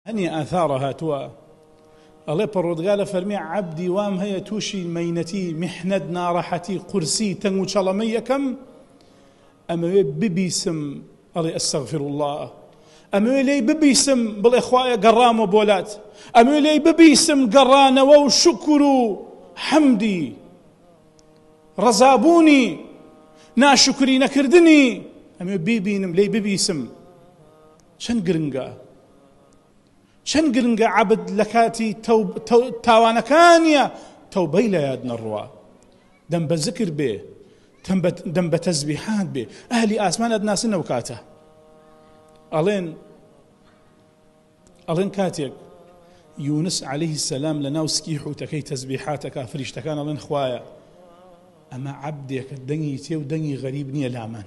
هەنی ئاثارە هاتووە ئەڵێ پەڕۆدگارە فەرمی عەبدی وام هەیە تووشی مەینەتی میحنەت ناڕەحەتی قورسی تەنگ و چەڵەمەی یەکەم ئەمەوێ ببیسم ئەڵێ ئەستەغفر الله ئەمەوێ لێی ببیسم بڵێ خوایە گەڕامە بۆلات ئەمەوێ لێی ببیسم گەڕانەوە و شکر و حەمدی ڕەزابوونی ناشکری نەکردنی ئەمێ بیبینم لی ببیسم چەن گرنگە چەن گرنگە عەبد لە کاتی تاوانەکانیە تەوبەی لە یاد نەڕوا دەم بە زکر بێ دەم بە تەزبیحات بێ ئەهلی ئاسمان ئەدناسن ئەو کاتە ئەڵێن ئەڵێن کاتێک یونس عليه سەسلام لە ناو سکی حوتەکەی تەزبیحاتەکە فریشتەکان ئەڵێن خوایە ئەمە عبدێکە دەنگی تێ و دەنگی غەریب نییە لامان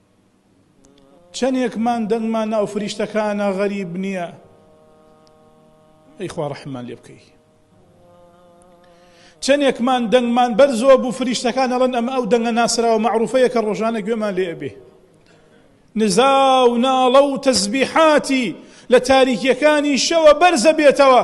چەنێکمان دەنگمان ناو فریشتەکانە غەریب نیە ئەی خوا ڕەحممان لێ بکەی چەنێکمان دەنگمان بەر زۆر بوو فریشتەکان ئەڵەن ئەمە ئەو دەنگە ناسراوە معروفەیە کە ڕۆژانە گوێمان لێ ئەبێ نزا و ناڵە و تەزبیحاتی لە تاریکیەکانی شەوە بەرزە بێتەوە